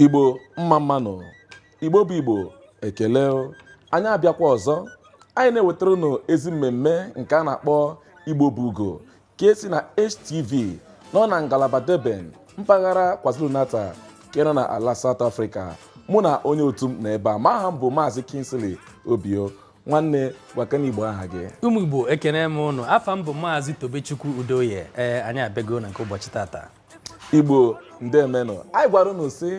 igbo mma mma nụ igbo bụ igbo ekele anyị abịakwa ọzọ anyị na-ewetara unu ezi mmemme nke a na-akpọ igbo bụ ugo ka esi na HTV nọ na ngalaba Durban mpaghara KwaZulu-Natal nke nọ na ala South Africa mụ na onye otu m na ebe a ma aha m bụ maazị Kingsley Obio nwanne gwakene igbo aha gị ụmụ igbo ekene m ụnụ afa m bụ maazị tobechukwu udoye ee anyị abịago na nke ụbọchị tata igbo ndemenụ anyị gwara unu sị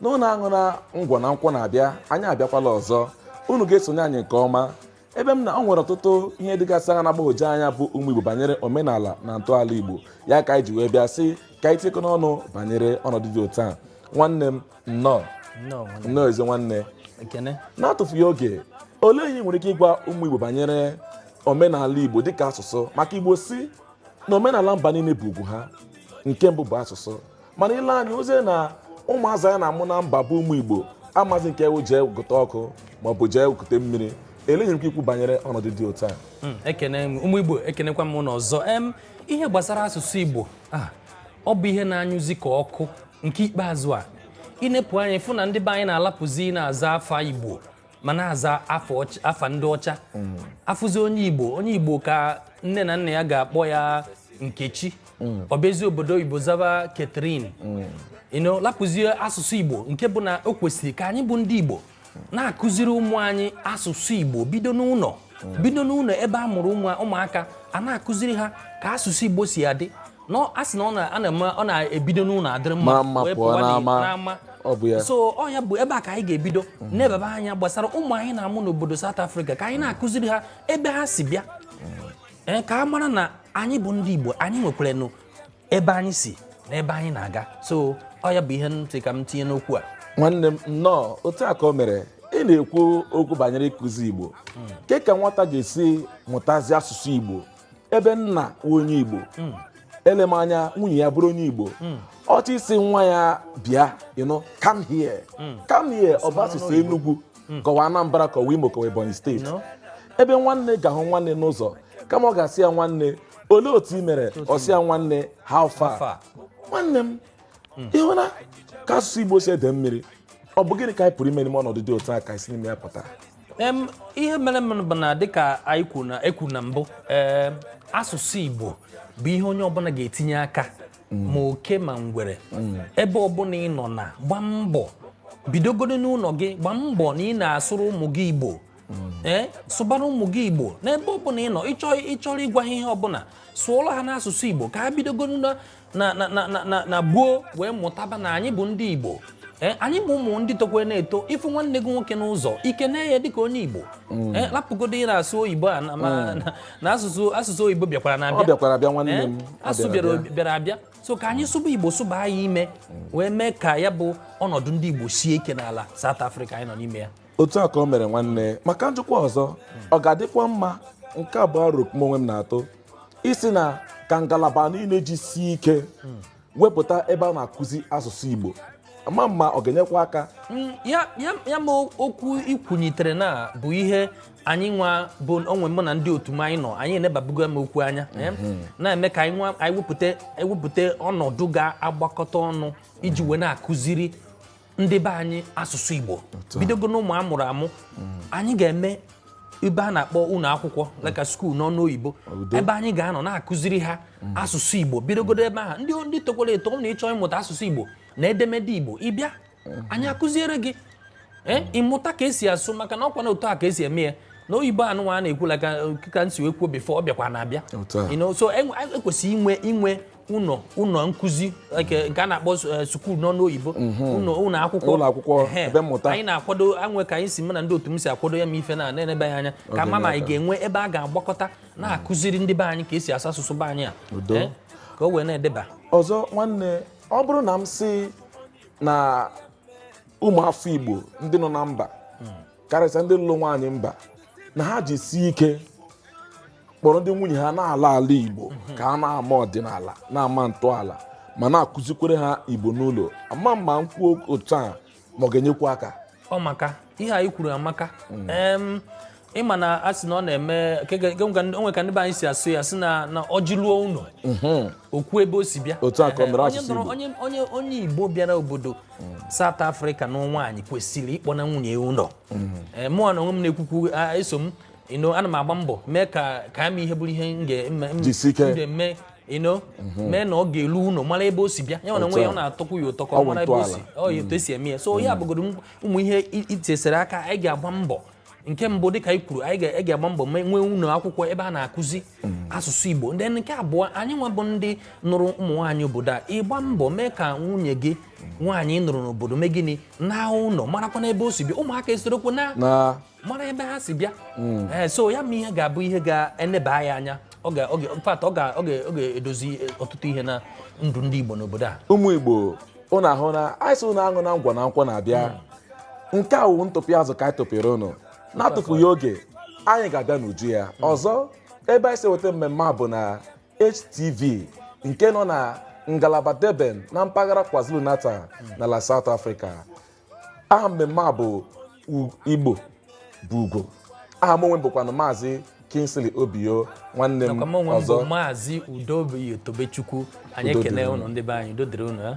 na ụnụ aṅụna ngwọ na nkwụ na-abịa anyị abịakwala ọzọ unu ga-esonye anyị nke ọma ebe m na ọ nwere ọtụtụ ihe dịgasị aghaa na-agbagwoju anya bụ ụmụ igbo banyere omenala na ntọala igbo ya ka anyị ji wee bịa sị ka anyị tikọ n'ọnụ banyere ọnọdụ dị otu a nwanne m nnọọ nnọọ ezi nwanne na-atụfughị oge olee ihe i nwere ike ịgwa ụmụ Igbo banyere omenala Igbo dịka asụsụ maka Igbo sị na omenala mba niile bụ ugwu ha nke mbụ bụ asụsụ mana i lee anya ozie na ụmụazị anyị na-amụ na mba bụ ụmụ Igbo amazi nke wụ jee gụta ọkụ maọbụ jee kute mmiri elee ihe i nwere ike ikwu banyere ọnọdụ dị otu a hmm, ekene ụmụ Igbo ekenekwa m ụnụ ọzọ ihe gbasara asụsụ Igbo ah, ọ bụ ihe na-anyụzi ka ọkụ nke ikpeazụ a ị nepụ anya fụ na ndị be anyị na-alapụzi na-aza afa igbo ma na-aza afa ndị ọcha mm. a fụzi onye igbo onye igbo ka nne na nna ya ga-akpọ ya nkechi mm. ọ bazie obodo oyibo zaba Catherine mm. you know lapụzie asụsụ igbo nke bụ na o kwesịrị ka anyị bụ ndị igbo na-akụziri ụmụ anyị asụsụ Igbo bido n'ụnọ bido n'ụnọ ebe a mụrụ ụmụaka a na-akụziri ha ka asụsụ Igbo si adị na a sị na a na-ebido n'ụnọ adịrị mma wee pụọ n'ama so ọ ya bụ ebe a ka anyị ga-ebido nebaba anya gbasara ụmụ anyị na-amụ n'obodo South Africa ka anyị na-akụziri ha ebe ha si bịa ka a mara na anyị bụ ndị Igbo anyị nwekwaranụ ebe anyị si na ebe anyị na-aga so ọ ya bụ ihe m sị ka m tinye n'okwu a nwanne m nnọọ otu a ka o mere ị na-ekwu okwu banyere ịkụzi igbo kee ka nwata ga-esi mụtazi asụsụ igbo ebe nna wụ onye igbo hmm. elem anya nwunye ya bụrụ onye igbo hmm. ọ chọọ ịsị nwa ya bịa ị nụ come here hmm. come here ọ bụ asụsụ enugwu hmm. ka ọ wụ Anambra ka ọ wụ Imo ka ọ wụ Ebonyi state ebe nwanne ga-ahụ nwanne n'ụzọ kama ọ ga-asị ya nwanne olee otu ị mere ọ sị ya nwanne how far nwanne m hmm. ị hụna ka asụsụ Igbo si ede mmiri ọ bụ gịnị ka anyị pụrụ ime n'ime ọnọdụ dị otu a ka e si n'ime ya pụta ihe merenụ bụ na dịka anyị kwuru na mbụ asụsụ Igbo bụ ihe onye ọbụna ga-etinye aka ma oke ma ngwere ebe ọbụla ị nọ na gba mbọ bidogodo n'ụlọ gị gba mbọ na ị na-asụrụ ụmụ gị igbo ee eh, sụbara ụmụ gị igbo n'ebe ọbụla ị nọ ị chọrọ ịgwa ha ihe ọbụla sụọla ha n'asụsụ igbo ka ha bidogodo na gboo wee mụtaba na anyị bụ ndị igbo Eh, anyị bụ ụmụ ndị tokwe na-eto ị fụ nwanne gị nwoke n'ụzọ ị kenee ya dịka onye Igbo mm. eh, rapụgodo ị na-asụ oyibo a na mm. asụsụ oyibo bịakwaranụ abịa eh, asụ bịara abịa so ka anyị sụba Igbo sụba ya ime mm. wee mee ka ya bụ ọnọdụ ndị Igbo sie ike n'ala South Africa anyị nọ n'ime ya otu a ka o mere nwanne maka njikwa ọzọ ọ ga-adịkwa mma nke a bụ aro nke m onwe m na-atụ ị sị na ka ngalaba niile jisie ike wepụta ebe a na-akụzi asụsụ Igbo ama m ma ọ ga-enyekwa aka mm, ya ma okwu i kwunyitere na bụ ihe anyị nwa bụ onwe mụ na ndị otu m anyị nọ anyị enebabugo m okwu anya eh? mhm. na-eme ka anyị wepụta ọnọdụ ga-agbakọta ọnụ iji wee na-akụziri ndị be anyị asụsụ Igbo bidogo n'ụmụ a mụrụ amụ mm. anyị ga-eme ebe a na-akpọ ụlọ akwụkwọ like a school n'ọnụ oyibo ebe anyị ga-anọ na-akụziri ha mm. asụsụ Igbo bidogodo ebe ahụ ndị ndị tokwara eto na ị chọọ ịmụta asụsụ Igbo na edemede Igbo ị bịa mm. anyị akụziere gị eh, ị mụta ka e si asụ maka na ọkwa na otu a ka e si eme ya na oyibo anụnwa a na-ekwu like ka m si wee kwuo before ọ bịakwanụ abịa so e kwesịrị inwe inwe ụlọ ụlọ nkụzi nke nke a na-akpọ eh, school n'ọnụ oyibo ụlọ ụlọ akwụkwọ Ụlọ akwụkwọ, Ehe. ebe mmụta. anyị na-akwado o nwe ka anyị si mụ na ndị otu m si akwado ya ma ife na na-enebe ya anya ka a ma ma anyị ga-enwe ebe a ga-agbakọta na-akụziri ndị be anyị ka e si asụ asụsụ be anyị a Udo. Eh, ka o wee na-edeba ọzọ nwanne ọ bụrụ na m sị na ụmụafọ igbo ndị nọ na mba karịsịa ndị lụrụ nwaanyị mba na ha jisie ike kpọrọ ndị nwunye ha na-ala ala igbo mhm. ka ha na-ama ọdịnala na-ama ntọala ma na-akụzikwere ha igbo n'ụlọ ama m ma m kwuo otu a ma ọ ga-enyekwu aka ọ maka ihe i kwuru amaka mm. ị ma na a sị na ọ na-eme o nwe ka ndị be anyị si asụ ya sị na ọjị luo ụlọ mm-hmm. o kwuo ebe o si bịa onye igbo bịara obodo mm. South Africa nụọ nwaanyị kwesịrị ịkpọna nwunye ụlọ mm-hmm. mụnwa onwe m na-ekwu okwu eso m you know ana m agba mbọ mee ka ka ama ihe bụrụ ihe m ga-eme m Jisi ike. m ga-eme you know mee na ọ ga-elu ụlọ mara ebe o si bịa ya na Otu onwe ya a. ọ na-atọkwu ya ụtọ ka Ọ ọ bụ mara ebe o si ntọala. ọ ya otu e si eme ya so ya bụgodo m- ụmụ ihe i- ị tụsịrị aka anyị ga-agba mbọ nke mbụ dịka anyị kwuru anyị ga- anyị ga-agba mbọ mee nwee ụlọ akwụkwọ ebe a na-akụzi asụsụ Igbo ndị nke abụọ anyị nwa bụ ndị nụrụ ụmụ nwaanyị obodo a ị gba mbọ mee ka nwunye gị nwaanyị ị nụrụ n'obodo mee gịnị naa ụlọ marakwanụ ebe o si bịa ụmụaka esorokwu na na mara ebe ha si bịa hmm. eh, so ya ma ihe ga-abụ ihe ga-eneba ya anya ọ ga-edozi eh, ọtụtụ ihe na ndụ ndị Igbo n'obodo a ụmụ Igbo ụnụ ahụna anyị sị ụnụ aṅụna ngwọ na nkwụ na-abịa hmm. nke a wụ ntụpị azụ ka anyị tụpịrị ụnụ na-atụfughị oge anyị ga-abịa n'uju ya hmm. ọzọ ebe anyị si weta mmemme a bụ na HTV nke nọ na ngalaba Durban na mpaghara KwaZulu-Natal hmm. n'ala South Africa aha mmemme a bụ Igbo bụ Ugo aha m onwe bụkwanụ maazị Kingsley Obio nwanne m ọzọ maazị Udobi Tobechukwu anyị ekene ụnụ ndị be anyị udo dịrị ụnụ ya eh?